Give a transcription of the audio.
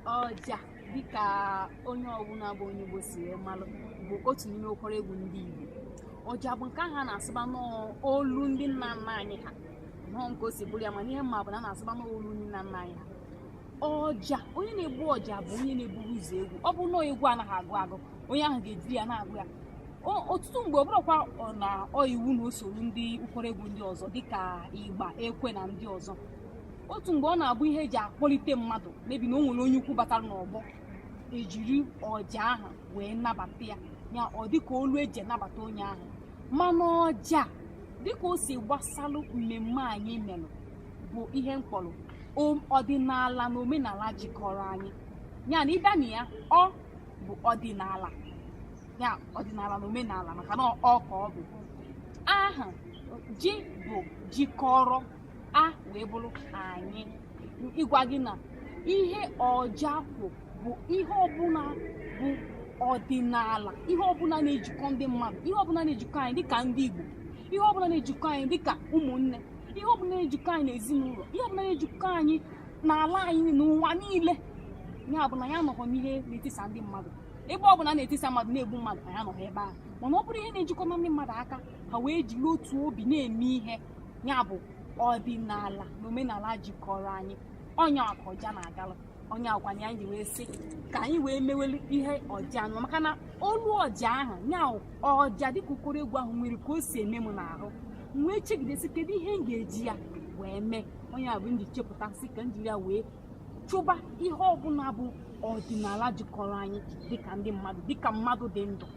ọja dịka onye ọbụla bụ onye Igbo si wee malụ bụ otu n'ime ụkọrọ egwu ndị Igbo ọja bụ nke ahụ a na-asụba n'olu ndị nna nna anyị ha nọọ nke o si bụrụ ya mana ihe m ma bụ na a na-asụba n'olu ndị nna nna anyị ha ọja onye na-egbu ọja bụ onye na-eburu ụzọ egwu ọ bụrụ na ọ egwu anaghị agụ agụ onye ahụ ga-eji ya na-agụ ya O- ọtụtụ mgbe ọ bụrụkwa na ọ iwu na o soro ndị ụkọrọ egwu ndị ọzọ dịka ịgba ekwe na ndị ọzọ otu mgbe ọ na-abụ ihe eji akpọlite mmadụ maybe na o nwere onye ukwu batara n'ọgbọ ejiri ọja ahụ wee nabata ya ya ọ dịka olu eji anabata onye ahụ mana ọja dịka o si gbasalụ mmemme anyị melụ bụ ihe m kpọrọ o- ọdịnala na omenala jikọrọ anyị ya na ị bịa na ya ọ bụ ọdịnala ya ọdịnala na omenala maka na ọ ka ọ bụ aha J bụ jikọrọ A wee bụrụ anyị ịgwa gị na ihe ọja kwụ bụ ihe ọbụla bụ ọdịnala ihe ọbụla na-ejikọ ndị mmadụ ihe ọbụla na-ejikọ anyị dịka ndị Igbo ihe ọbụla na-ejikọ anyị dịka ụmụnne ihe ọbụla na-ejikọ anyị n'ezinụlọ ihe ọbụla na-ejikọ anyị n'ala anyị n'ụwa niile ya bụ na anyị anọghọ n'ihe na-etisa ndị mmadụ ebe ọ bụla na-etisa mmadụ na-egbu mmadụ anyị anọghọ ebe ahụ mana ọ bụrụ ihe na-ejikọna ndị mmadụ aka ha wee jiri otu obi na-eme ihe ya bụ ọdịnala na omenala jikọrọ anyị ọ nya ka ọja na-agalụ ọ nya ka anyị ji wee sị ka anyị wee mewelu ihe ọja ahụ maka na olu ọja ahụ ya bụ ọja dịka ụkọrọ egwu ahụ nwere ka o si eme m n'ahụ m wee chegide sị kedu ihe m ga-eji ya wee mee ọ nya bụ m ji chepụta sị ka m jiri ya wee chụba ihe ọbụla bụ ọdịnala jikọrọ anyị dịka ndị mmadụ dịka mmadụ dị ndụ